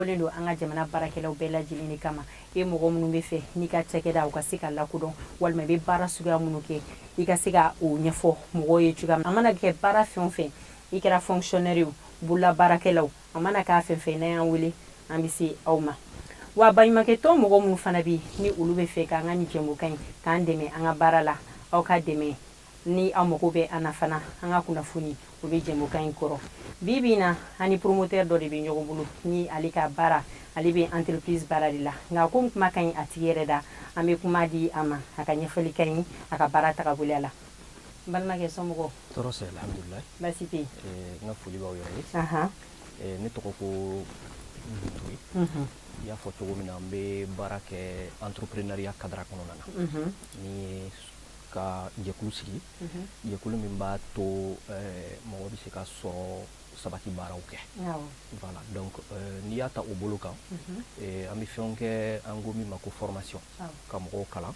len don an ka jamana baarakɛlaw bɛɛ lajɛlen de kama e mɔgɔ minnu b'a fɛ n'i ka cakɛda u ka se ka lakodɔn walima i bɛ baara suguya minnu kɛ i ka se ka o ɲɛfɔ mɔgɔw ye cogoya min a mana kɛ baara fɛn o fɛn i kɛra fonctionnaire ye o bolola baarakɛlaw a mana kɛ fɛn fɛn n'aw y'an wele an bɛ se aw ma wa baɲumankɛtɔn mɔgɔ minnu fana bɛ ni olu b'a fɛ k'an ka nin jɛmukan in k'an dɛmɛ an ka baara la aw ka dɛmɛ Ni aw mago bɛ an na fana, an ka kunnafoni, o bɛ jɛmukan in kɔrɔ. Bi bi in na, an ni promoteur dɔ de bɛ ɲɔgɔn bolo, ni ale ka baara, ale bɛ entreprise baara de la. Nka komi kuma ka ɲi a tigi yɛrɛ da, an bɛ kuma di a ma, a ka ɲɛfɔli k'an ye a ka baara tagaboloya la. N balimakɛ, somɔgɔw? Tɔɔrɔ sɛ, alhamdulilahi. Baasi tɛ yen. Ee n ka foli b'aw yɛrɛ ye. Anhan. Ee ne tɔgɔ ko Butoyi. Unhun. I y'a fɔ cogo min na, n bɛ baara kɛ entreprenariat cadre kɔnɔna na. Unhun. N'o ye ka jɛkulu sigi jɛkulu min b'a to mɔgɔ bɛ se ka sɔrɔ sabati baaraw kɛ voilà donc n'i y'a ta o bolo kan an bɛ fɛn kɛ an ko min ma ko formation ka mɔgɔw kalan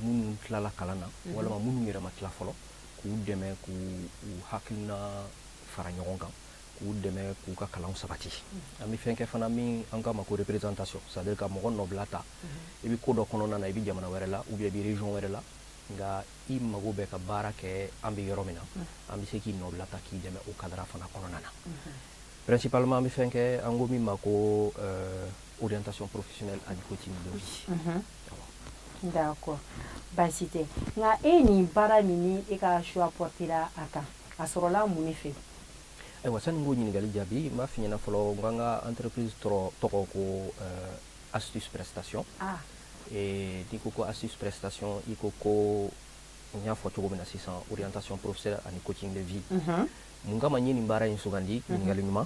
minnu tilala kalan na walima minnu yɛrɛ ma tila fɔlɔ k'u dɛmɛ k'u hakiliina fara ɲɔgɔn kan k'u dɛmɛ k'u ka kalan sabati an bɛ fɛn kɛ fana min an k'a ma ko représentation c'est à dire ka mɔgɔ nɔbila ta i bɛ ko dɔ kɔnɔna na i bɛ jamana wɛrɛ la ou bien i bɛ région wɛrɛ la nka i mago bɛ ka baara kɛ an bɛ yɔrɔ min na an bɛ se k'i nɔbila ta k'i dɛmɛ o cadre fana kɔnɔna na principalement an bɛ fɛn kɛ an ko min ma ko orientation professionnelle ani coaching de vie d'accord baasi tɛ nka e nin baara min ni e ka choix portera a kan a sɔrɔla mun de fɛ ayiwa sani n k'o ɲininkali jaabi n b'a f'i ɲɛna fɔlɔ n k'an ka entreprise tɔgɔ ko eh, astuce prestation ah. eh, n'i ko ko astuce prestation i ko ko n y'a fɔ cogo min na sisan orientation professionnelle ani coaching de vie mhm. mun kama n ye nin baara in sugandi mhm. ɲininkali ɲuman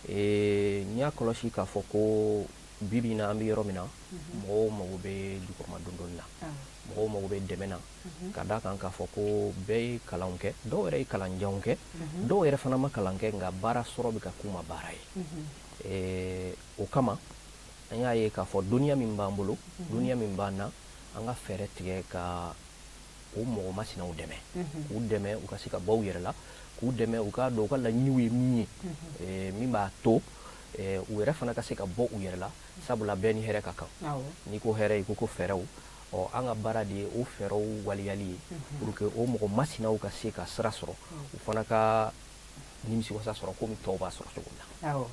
eh, n y'a kɔlɔsi k'a fɔ ko bibi in na an bɛ yɔrɔ min na mhm. mɔgɔw mago bɛ jukɔrɔmadondonni na ah. mɔgɔw mago bɛ dɛmɛ na mhm. ka d'a kan k'a fɔ ko bɛɛ ye kalan kɛ dɔw yɛrɛ ye kalan janw kɛ mhm. dɔw yɛrɛ fana ma kalan kɛ nka baara sɔrɔ bɛ ka k'u ma baara ye eh, o kama an y'a ye k'a fɔ dɔnniya min b'an bolo dɔnniya min b'an na an ka fɛɛrɛ tigɛ ka o mɔgɔ masinaw dɛmɛ k'u dɛmɛ u ka se ka bɔ u yɛrɛ la k'u dɛmɛ u k'a dɔn u ka laɲiniw ye min ye eh, min b'a to eh, u yɛrɛ fana ka se ka bɔ u yɛrɛ la sabula bɛɛ ni hɛrɛ ka kan n'i ko hɛrɛ i ko ko fɛɛrɛw Ɔ an ka baara de ye o fɛɛrɛw waleyali ye pour que o mɔgɔ masinaw ka se ka sira sɔrɔ u fana ka nimisiwasa sɔrɔ komi tɔw b'a sɔrɔ cogo min na. Awɔ.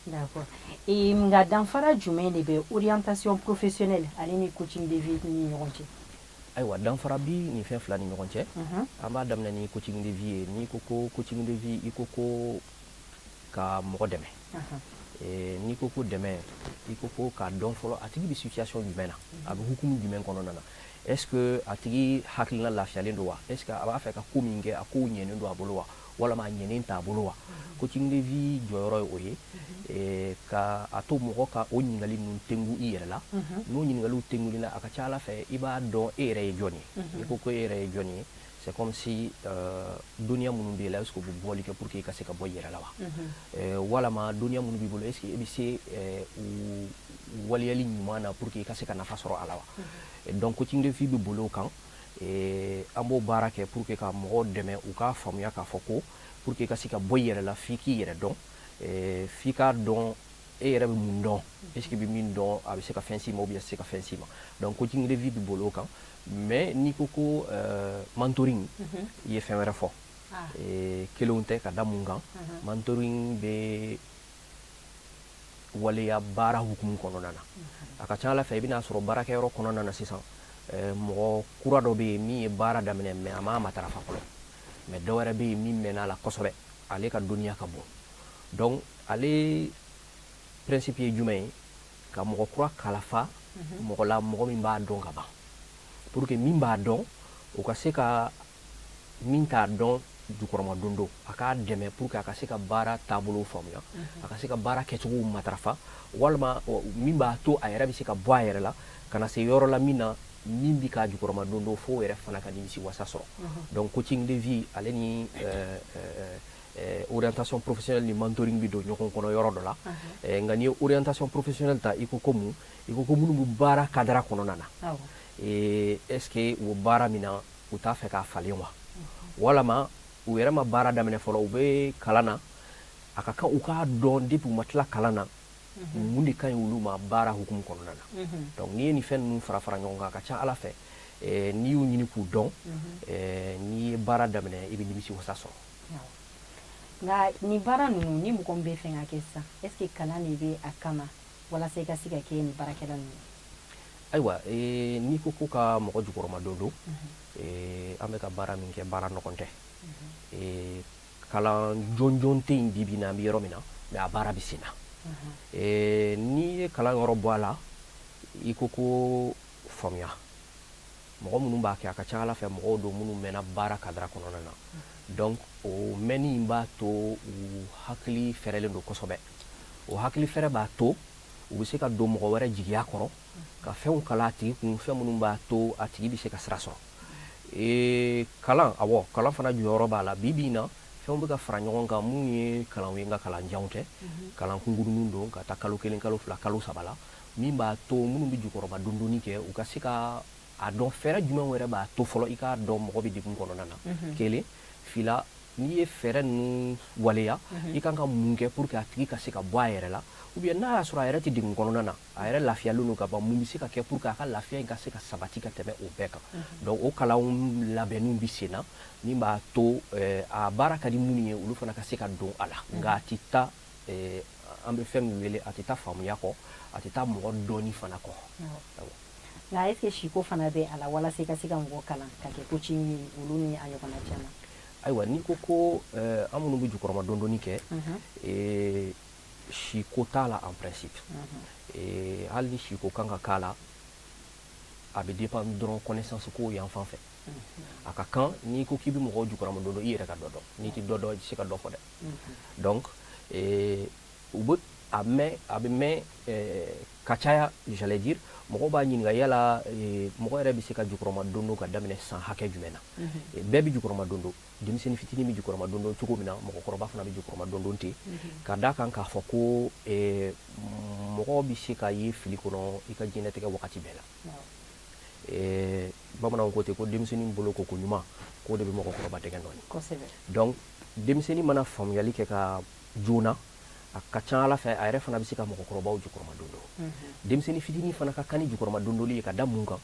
D'accord. Ee nka danfara jumɛn de bɛ orientation professionnelle ale ni coaching de vie ni ɲɔgɔn cɛ? Ayiwa danfara bi nin fɛn fila ni ɲɔgɔn cɛ. Unhun. An b'a daminɛ ni coaching de vie ye. N'i ko ko coaching de vie i ko ko ka mɔgɔ dɛmɛ. n'i ko ko dɛmɛ i ko ko k'a dɔn fɔlɔ a tigi bɛ situation jumɛn na a bɛ hukumu jumɛn kɔnɔna na est ce que a tigi hakilina lafiyalen don wa est ce que a b'a fɛ ka ko min kɛ a kow ɲɛnen don a bolo wa walama a ɲɛnen t'a bolo wa coaching de vie jɔyɔrɔ ye o ye eh, ka a to mɔgɔ ka o ɲininkali ninnu tengu i yɛrɛ la n'o ɲininkaliw tenguli la a ka ca a la fɛ i b'a dɔn e yɛrɛ ye jɔn ye n'i ko ko e yɛrɛ ye jɔn ye c'est comme si euh, dɔnniya minnu b'i la est-ce que u bɛ bɔli kɛ pour que i ka se ka bɔ i yɛrɛ la wa euh, walama dɔnniya minnu b'i bolo est-ce que i bɛ se euh, u waleyali ɲuman na pour que i ka se ka nafa sɔrɔ a la wa donc coaching de vie bɛ boli o kan an b'o baara kɛ pour que ka mɔgɔw dɛmɛ u k'a faamuya k'a fɔ ko pour que i ka se ka bɔ i yɛrɛ la f'i k'i yɛrɛ dɔn f'i k'a dɔn e yɛrɛ bɛ mun dɔn est ce que i bɛ min dɔn a bɛ se ka fɛn s'i ma ou bien a tɛ se ka fɛn s'i ma donc coaching de vie bɛ boli o kan mais n'i ko ko euh, mentoring mhm. i ye fɛn wɛrɛ fɔ ah. eh, kelenw tɛ ka da mun kan mhm. mentoring bɛ waleya baara hukumu kɔnɔna na mhm. a ka ca a la fɛ i bɛna sɔrɔ baarakɛyɔrɔ kɔnɔna na sisan eh, mɔgɔ kura dɔ bɛ yen min ye baara daminɛ mais a m'a matarafa fɔlɔ mais dɔ wɛrɛ bɛ yen min mɛnna a la kosɛbɛ ale ka dɔnniya ka bon donc ale principe ye jumɛn ye ka mɔgɔ kura kalafa mɔgɔ la mɔgɔ min b'a dɔn ka ban pour que min b'a dɔn o ka se ka min t'a dɔn jukɔrɔma don don a k'a dɛmɛ pour que a ka se ka baara taabolow faamuya a ka se ka baara kɛcogow matarafa walima min b'a to a yɛrɛ bɛ se ka bɔ a yɛrɛ la ka na se yɔrɔ la min na min bɛ k'a jukɔrɔma don don f'o yɛrɛ fana ka nimisi wasa sɔrɔ donc coaching de vie ale ni euh, euh, orientation professionnelle ni mentoring bɛ don ɲɔgɔn kɔnɔ yɔrɔ dɔ la nka n'i ye orientation professionnelle ta i ko ko mun i ko ko minnu bɛ baara kadara kɔnɔna na est ce que u bɛ baara min na u t'a fɛ k'a falen wa walama u yɛrɛ ma baara daminɛ fɔlɔ u bɛ kalan na a ka kan u k'a dɔn depuis u ma tila kalan na mun de ka ɲi olu ma baara hukumu kɔnɔna na donc n'i ye nin fɛn ninnu fara fara ɲɔgɔn kan a ka ca a la fɛ n'i y'u ɲini k'u dɔn n'i ye baara daminɛ i bɛ nimisi wasa sɔrɔ nka nin baara ninnu ni mɔgɔ min b'a fɛ k'a kɛ sisan est ce que kalan de bɛ a kama walasa i ka se ka kɛ nin baarakɛla ninnu ayiwa eh, n'i ko ko ka mɔgɔ jukɔrɔma don don mhm. eh, an bɛ ka baara min kɛ baara nɔgɔn tɛ mhm. eh, kalan jɔnjɔn tɛ yen bi bi na an bɛ yɔrɔ min na mais a baara bɛ sen na mhm. n'i ye kalan yɔrɔ bɔ a la i ko ko faamuya mɔgɔ minnu b'a kɛ a ka ca ala fɛ mɔgɔw don minnu mɛnna baara kadira kɔnɔna na donc o mɛnni in b'a to u hakili fɛrɛlen don kosɛbɛ o hakili fɛrɛ b'a to u bɛ se ka don mɔgɔ wɛrɛ jigiya kɔrɔ ka fɛnw kala a tigi kun fɛn minnu b'a to a tigi bɛ se ka sira sɔrɔ ee kalan awɔ kalan fana jɔyɔrɔ b'a la bi bi in na fɛnw bɛ ka fara ɲɔgɔn kan minnu ye kalanw ye nka kalan janw tɛ kalan kunkuruninw don ka taa kalo kelen kalo fila kalo saba la min b'a to minnu bɛ jukɔrɔma dondonni kɛ u ka se ka a dɔn fɛɛrɛ jumɛn wɛrɛ b'a to fɔlɔ i k'a dɔn mɔgɔ bɛ degun kɔnɔna na kelen fila n'i ye fɛɛrɛ ninnu waleya i kan ka mun kɛ pour que a tigi ka se ka bɔ a yɛrɛ la ou bien n'a y'a sɔrɔ a yɛrɛ tɛ degun kɔnɔna na a yɛrɛ lafiyalen don ka ban mun bɛ se ka kɛ pour que a ka lafiya in ka se ka sabati ka tɛmɛ o bɛɛ kan donc o kalan labɛnniw bɛ sen na min b'a to a baara ka di minnu ye olu fana ka se ka don a la nka a tɛ taa An bɛ fɛn min wele a tɛ taa faamuya kɔ a tɛ taa mɔgɔ dɔnni fana kɔ nka est ce que psycho fana bɛ a la walasa ka se ka mɔgɔ kalan ka kɛ coach ye olu ni a ɲɔgɔnna caman ayiwa n'i ko ko an minnu bɛ jukɔrɔma dondonni kɛ psycho t'a la en principe hali ni psycho kan ka k'a la a bɛ dépend dɔrɔn connaissance ko yan fan fɛ a ka kan n'i ko k'i bɛ mɔgɔ jukɔrɔmadon i yɛrɛ ka dɔ dɔn n'i tɛ dɔ dɔn i tɛ se ka dɔ fɔ dɛ u bɛ a mɛn a bɛ mɛn ka caya j'allais dire mɔgɔ b'a ɲininka yala mɔgɔ yɛrɛ bɛ se ka jukɔrɔma dondon ka daminɛ san hakɛ jumɛn na bɛɛ bɛ jukɔrɔma dondon denmisɛnnin fitinin bɛ jukɔrɔma dondon cogo min na mɔgɔkɔrɔba fana bɛ jukɔrɔma dondon ten ka d'a kan k'a fɔ ko mɔgɔ bɛ se ka ye fili kɔnɔ i ka diɲɛlatigɛ wagati bɛɛ la bamananw ko ten ko denmisɛnnin bolo ko ko ɲuman k'o de bɛ mɔgɔkɔrɔba dɛ denmisɛnnin mana faamuyali kɛ ka joona a ka ca ala fɛ a yɛrɛ fana bɛ se ka mɔgɔkɔrɔbaw jukɔrɔma dondon denmisɛnnin fitinin fana ka kan ni jukɔrɔma dondonli ye ka da mun kan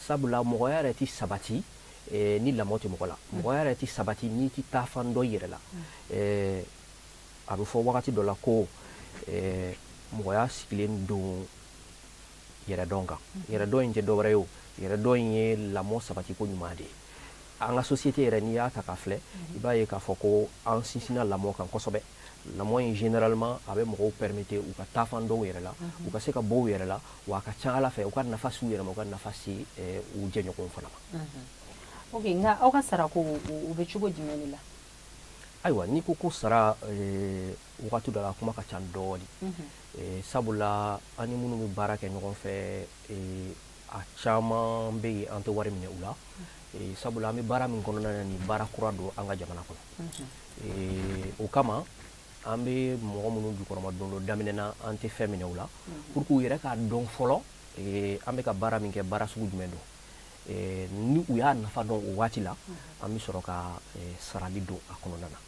sabula mɔgɔya yɛrɛ tɛ sabati eh, ni lamɔ tɛ mɔgɔ la mɔgɔya yɛrɛ tɛ sabati n'i tɛ taa fan dɔ yɛrɛ la eh, a bɛ fɔ wagati dɔ la ko eh, mɔgɔya sigilen don yɛrɛdɔn kan yɛrɛdɔn in tɛ dɔwɛrɛ ye o yɛrɛdɔn in ye lamɔ sabatiko ɲuman de ye an ka société yɛrɛ n'i y'a ta k'a filɛ i b'a ye k'a fɔ ko an sinsinna lamɔ kan kosɛbɛ lamɔ in généralement a bɛ mɔgɔw permettre u ka taa fan dɔw yɛrɛ la u ka se ka bɔ u yɛrɛ la wa a ka ca ala fɛ u ka nafa s'u yɛrɛ ma u ka nafa se u jɛɲɔgɔnw fana ma o nka aw ka sarako u bɛ cogo jumɛn de la ayiwa n'i ko ko sara wagati dɔ la kuma ka ca dɔɔnin sabula an ni minnu bɛ baara kɛ ɲɔgɔn fɛ a caman bɛ yen an tɛ wari minɛ u la sabula an bɛ baara min kɔnɔna na nin baara kura don an ka jamana kɔnɔ o kama an bɛ mɔgɔ minnu jukɔrɔma dondon daminɛ na an tɛ fɛn minɛ u la pour que u yɛrɛ k'a dɔn fɔlɔ an bɛ ka baara min kɛ baara sugu jumɛn don ni u y'a nafa dɔn o waati la an bɛ sɔrɔ ka sarali don a kɔnɔna na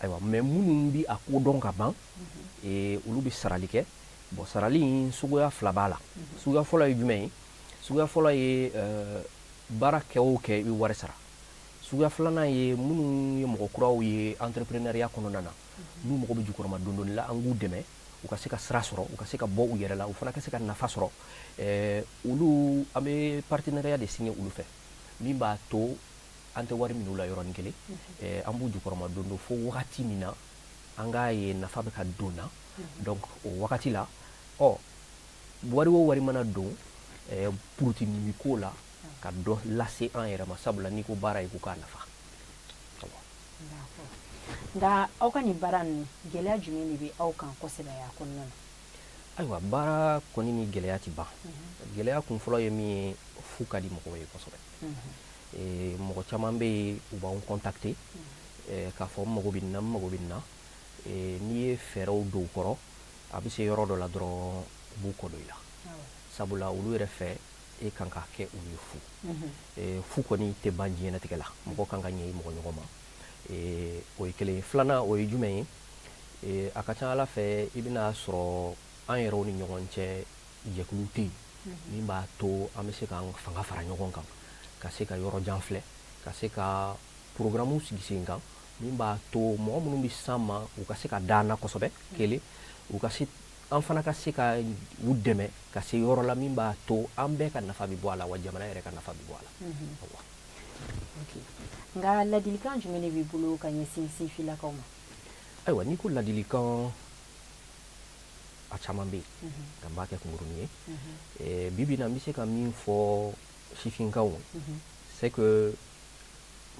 ayiwa mais minnu bɛ a ko dɔn ka ban olu bɛ sarali kɛ Bon sarali in suguya fila b'a la suguya fɔlɔ ye jumɛn ye suguya fɔlɔ ye baara kɛ o kɛ i bɛ wari sara suguya filanan ye minnu ye mɔgɔ kuraw ye entrepreneuriat kɔnɔna na n'u mago bɛ jukɔrɔma dondon la an k'u dɛmɛ u ka se ka sira sɔrɔ u ka se ka bɔ u yɛrɛ la u fana ka se ka nafa sɔrɔ olu an bɛ partenariat de signer olu fɛ min b'a to an tɛ wari minɛ u la yɔrɔnin kelen an b'u jukɔrɔma don don fo wagati min na an k'a ye nafa bɛ ka don na donc o wagati la ɔ wari o wari mana don eh, purutinimi ko la ka dɔ lase an yɛrɛ ma sabula n'i ko baara ye ko k'a nafa nka aw ka nin baara ninnu gɛlɛya jumɛn de bɛ aw kan kosɛbɛ a kɔnɔna na ayiwa baara kɔni ni gɛlɛya tɛ ban mhm. gɛlɛya kun fɔlɔ ye min ye fu ka di mɔgɔw ye kosɛbɛ mhm. Ee mɔgɔ caman bɛ yen u b'an contacter k'a fɔ n mago bɛ nin na n mago bɛ nin na n'i ye fɛɛrɛw don u kɔrɔ a bɛ se yɔrɔ dɔ la dɔrɔn u b'u kɔ don i la sabula olu yɛrɛ fɛ e kan k'a kɛ olu ye fu fu kɔni tɛ ban diɲɛnatigɛ la mɔgɔ kan ka ɲɛ i mɔgɔ ɲɔgɔn ma o ye kelen filanan o ye jumɛn ye a ka ca a la fɛ i bɛna sɔrɔ an yɛrɛw ni ɲɔgɔn cɛ jɛkulu tɛ yen min b'a to an bɛ se k'an fanga fara ɲɔgɔn kan ka se ka yɔrɔ jan filɛ ka se ka porogaramu sigi sen kan min b'a to mɔgɔ minnu bɛ s'an ma u ka se ka da an na kosɛbɛ kelen u ka se an fana ka se ka u dɛmɛ ka se yɔrɔ la min b'a to an bɛɛ ka nafa bɛ bɔ a la wa jamana yɛrɛ ka nafa bɛ bɔ a la nka ladilikan jumɛn de b'i bolo ka ɲɛsin sifinlakaw ma ayiwa n'i ko ladilikan a caman bɛ yen nka n b'a kɛ kunkurunnin ye eh, bi bi in na n bɛ se ka min fɔ sifinkaw c'est que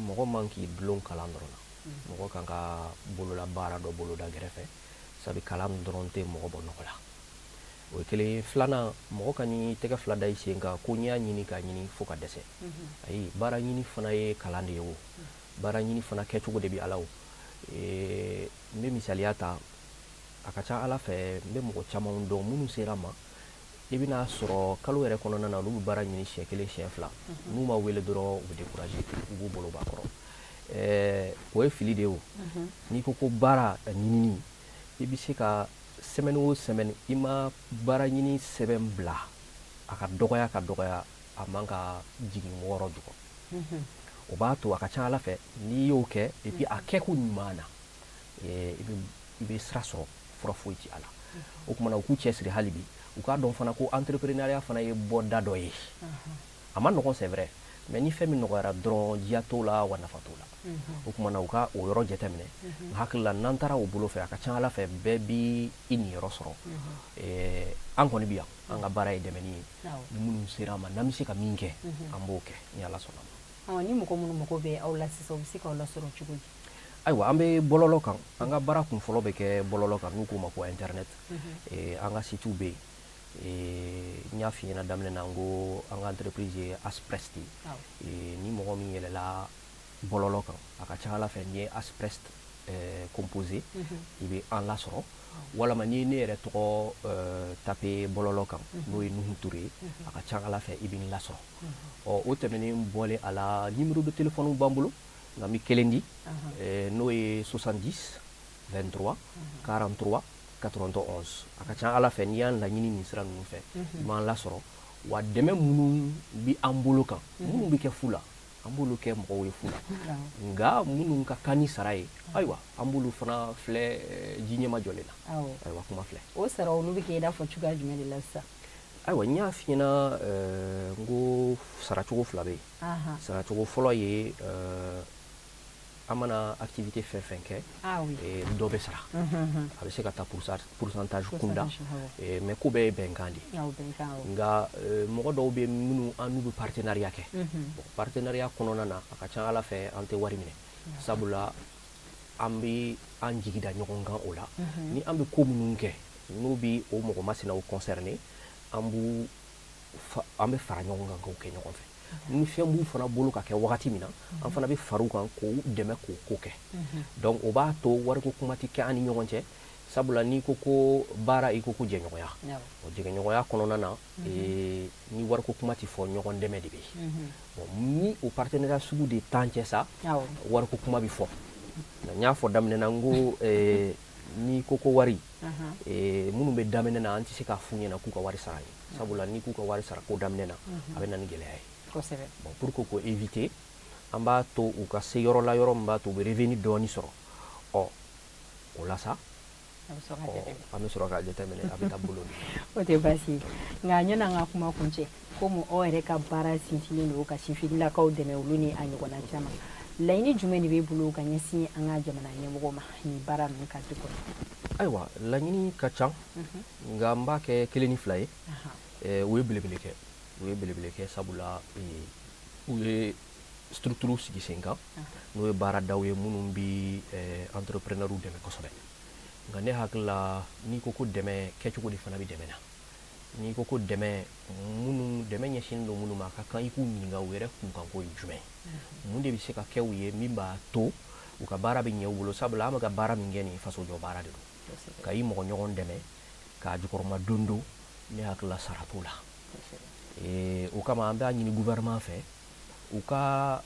mɔgɔ man k'i dulon kalan dɔrɔn na mɔgɔ kan ka bolola baara dɔ boloda gɛrɛfɛ sabu kalan dɔrɔn tɛ mɔgɔ bɔ nɔgɔ la o ye kelen ye filanan mɔgɔ kan'i tɛgɛ fila da i sen kan ko n y'a ɲini k'a ɲini fo ka dɛsɛ ayi baara ɲini fana ye kalan de ye o baara ɲini fana kɛcogo de bɛ a la o eh, N bɛ misaliya ta a ka ca ala fɛ n bɛ mɔgɔ caman dɔn minnu sera ma i bɛn'a sɔrɔ kalo yɛrɛ kɔnɔna na olu bɛ baara ɲini siyɛn kelen siyɛn fila n'u ma wele dɔrɔn u découragé u b'u bolo b'a kɔrɔ o ye fili de o n'i ko ko baara ɲinini i bɛ se ka semaine o semaine i ma baara ɲini sɛbɛn bila a ka dɔgɔya ka dɔgɔya a man ka jigin wɔɔrɔ jukɔrɔ o b'a to a ka ca ala fɛ n'i y'o kɛ et puis a kɛko ɲuman na i bɛ sira sɔrɔ fura foyi ti a la o kumana u k'u cɛ siri hali bi u k'a dɔn fana ko entrepreneuriat fana ye bɔda dɔ ye a ma nɔgɔ c'est vrai mais ni fɛn min nɔgɔyara dɔrɔn diya t'o la wa nafa t'o la o kumana u ka o yɔrɔ jateminɛ n hakili la n'an taara o bolo fɛ a ka ca ala fɛ bɛɛ bɛ i niyɔrɔ sɔrɔ an kɔni bɛ yan an ka baara ye dɛmɛni ye ni minnu sera an ma n'an bɛ se ka min kɛ an b'o kɛ ni ala sɔnna ma ni mɔgɔ minnu mago bɛ aw la sisan u bɛ se k'aw lasɔrɔ cogo di ayiwa an bɛ bɔlɔlɔ kan an ka baara kun fɔlɔ bɛ kɛ bɔlɔlɔ kan n'u k'o ma ko internet an ka site bɛ yen n y'a f'i ɲɛna daminɛ na n ko an ka entreprise ye asprest ni mɔgɔ min yɛlɛla bɔlɔlɔ kan a ka ca ala fɛ n'i ye asprest eh, composé mhm. i bɛ an lasɔrɔ walama n'i ye ne yɛrɛ tɔgɔ eh, tapé bɔlɔlɔ kan mhm. n'o ye nuhu ture ye mhm. a ka ca ala fɛ i bɛ n lasɔrɔ ɔ o tɛmɛnen bɔlen a la numéro de téléphone b'an bolo nka n bɛ kelen di eh, n'o ye 70 23 43 91 a ka ca ala fɛ n'i y'an laɲini nin sira ninnu fɛ i b'an lasɔrɔ wa dɛmɛ minnu bɛ an bolo kan minnu bɛ kɛ fu la an b'olu kɛ mɔgɔw ye fu la nka minnu ka kan ni sara ye ayiwa an b'olu fana filɛ eh, ji ɲɛma jɔlen na ayiwa kuma filɛ o sara olu bɛ kɛ i n'a fɔ cogoya jumɛn de la sisan ayiwa n y'a f'i ɲɛna eh, n ko saracogo fila bɛ yen saracogo fɔlɔ ye eh, an mana activité fɛn fɛn kɛ dɔ bɛ sara a bɛ se ka taa pourcentage kunda mais ko bɛɛ ye bɛnkan de nka mɔgɔ dɔw bɛ minnu an n'u bɛ partenariat kɛ partenariat kɔnɔna na a ka ca ala fɛ an tɛ wari minɛ sabula an bɛ an jigi da ɲɔgɔn kan o la ni an bɛ ko minnu kɛ n'o bɛ o mɔgɔ masinaw concerné an b an bɛ fara ɲɔgɔn kan k'o kɛ ɲɔgɔn fɛ ni fɛn b'u fana bolo ka kɛ wagati min na an fana bɛ fara u kan k'u dɛmɛ k'o ko kɛ donc o b'a to wariko kuma tɛ kɛ an ni ɲɔgɔn cɛ sabula n'i ko ko baara i ko ko jɛɲɔgɔnya o jɛɲɔgɔnya kɔnɔna na ni wariko kuma tɛ fɔ ɲɔgɔn dɛmɛ de bɛ yen ni o partenariat sugu de t'an cɛ sa wariko kuma bɛ fɔ n y'a fɔ daminɛ na n ko n'i ko ko wari minnu bɛ daminɛ na an tɛ se k'a f'u ɲɛna k'u ka wari sara ye sabula n'i k'u ka wari sara ko daminɛ na a bɛ na ni gɛlɛya ye bon pour que k'o éviter an b'a to u ka se yɔrɔ la yɔrɔ min b'a to u bɛ revenu dɔɔni sɔrɔ ɔ o la sa an bɛ sɔrɔ k'a jateminɛ a bɛ taa bolo de o tɛ baasi ye nka yanni an ka kuma kuncɛ komi aw yɛrɛ ka baara sinsinnen don ka sifinnakaw dɛmɛ olu ni a ɲɔgɔnna caman laɲini jumɛn de b'e bolo ka ɲɛsin an ka jamana ɲɛmɔgɔ ma nin baara ninnu cadre kɔnɔ ayiwa laɲini ka ca nka n b'a kɛ kelen ni fila ye u ye belebele kɛ u ye belebele kɛ sabula u ye structure sigi sen kan n'o ye baaradaw ye minnu bɛ entrepreneurs dɛmɛ kosɛbɛ nka ne hakili la n'i ko ko dɛmɛ kɛcogo de fana bɛ dɛmɛ na n'i ko ko dɛmɛ minnu dɛmɛ ɲɛsinnen don minnu ma a ka kan i k'u ɲininka u yɛrɛ kunkanko ye jumɛn mun de bɛ se ka kɛ u ye min b'a to u ka baara bɛ ɲɛ u bolo sabula an bɛ ka baara min kɛ nin faso jɔ baara de don ka i mɔgɔ ɲɔgɔn dɛmɛ k'a jukɔrɔmadondon ne hakili la sara t'o la ee, o kama an b'a ɲini gouvernement fɛ u ka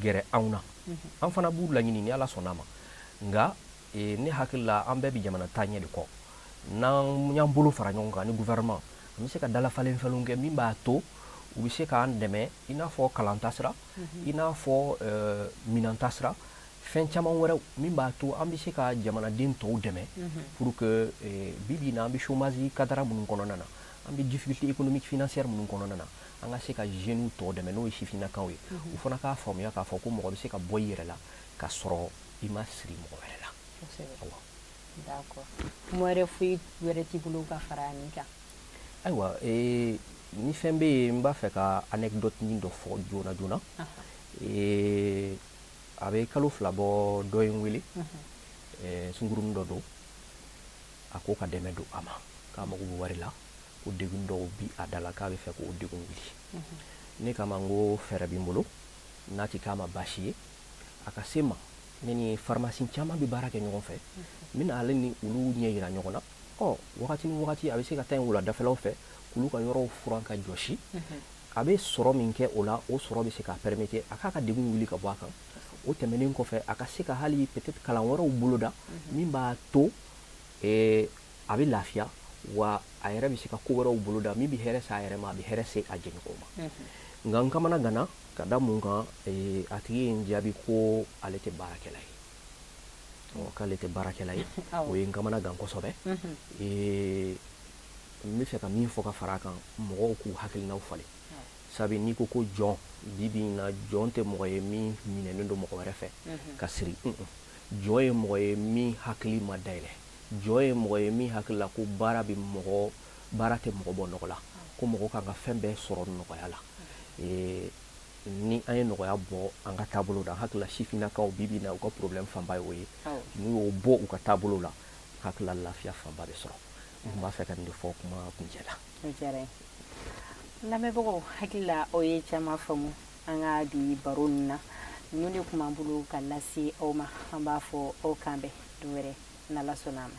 gɛrɛ anw na mhm. an fana b'u laɲini ni ala sɔnna ma nka ee, ne hakili la an bɛɛ bɛ jamana taaɲɛ de kɔ n'an y'an bolo fara ɲɔgɔn kan ni gouvernement an bɛ se ka dalafalenfalen kɛ min b'a to u bɛ se k'an dɛmɛ i n'a fɔ kalan tasira mhm. i n'a fɔ eh, minan tasira fɛn caman wɛrɛw min b'a to an bɛ se ka jamanaden tɔw dɛmɛ pour que eh, bi bi in na an bɛ chômage cadre minnu kɔnɔna na an bɛ difficulté économique financière minnu kɔnɔna na an ka se ka jeunes tɔw dɛmɛ n'o ye sifinnakaw ye u fana k'a faamuya k'a fɔ ko mɔgɔ bɛ se ka bɔ i yɛrɛ la ka sɔrɔ i ma siri mɔgɔ wɛrɛ la awa d'accord kuma wɛrɛ foyi wɛrɛ t'i bolo ka fara nin kan ayiwa eh, ni fɛn bɛ yen n b'a fɛ ka anecdote nin dɔ fɔ joona joona eh, a bɛ kalo fila bɔ dɔ ye n wele sungurunnin dɔ don a ko ka dɛmɛ don a ma k'a mago bɛ wari la ko degun dɔw bi a da la k'a bɛ fɛ k'o degun wuli ne kama n ko fɛɛrɛ bɛ n bolo n'a tɛ k'a ma baasi ye a ka se n ma ne ni pharmacie caman bɛ baara kɛ ɲɔgɔn fɛ n bɛna ale ni olu ɲɛ jira ɲɔgɔn na ɔ wagati ni wagati a bɛ se ka taa nin wuladafɛlaw fɛ k'olu ka yɔrɔw furan ka jɔsi a bɛ sɔrɔ min kɛ o la o sɔrɔ bɛ se k'a permettre a k'a ka degun wuli ka bɔ a kan o tɛmɛnen kɔfɛ a ka se ka hali peut-être kalan wɛrɛw boloda min b'a to a bɛ lafiya wa a yɛrɛ bɛ se ka ko wɛrɛw boloda min bɛ hɛrɛ se a yɛrɛ ma a bɛ hɛrɛ se a jɛɲɔgɔnw ma nka n kamana ganna ka da mun kan a tigi ye n jaabi ko ale tɛ baarakɛla ye k'ale tɛ baarakɛla ye o ye n kamana gan kosɛbɛ n bɛ fɛ ka min fɔ ka fara a kan mɔgɔw k'u hakilinaw falen sabu n'i ko ko jɔn bi bi na jɔn tɛ mɔgɔ ye min minɛnen don mɔgɔ wɛrɛ fɛ mhm. ka siri jɔn ye mɔgɔ ye min hakili ma dayɛlɛ jɔn ye mɔgɔ ye min hakili la ko baara bɛ mɔgɔ baara tɛ mɔgɔ bɔ nɔgɔ la ko mɔgɔ kan ka fɛn bɛɛ sɔrɔ nɔgɔya la mhm. ni an ye nɔgɔya bɔ an ka taabolo la n hakili la sifinnakaw bi bi na u ka problème fanba ye o ye n'u y'o bɔ u ka taabolo la hakili la lafiya fanba bɛ sɔrɔ n tun b'a fɛ ka nin de fɔ kuma kuncɛ la o diyara an ye lamɛnbagaw hakili la aw ye caman faamu an ka bi baro ninnu na ninnu de tun b'an bolo ka lase aw ma an b'a fɔ aw k'an bɛn don wɛrɛ n'ala sɔnna a ma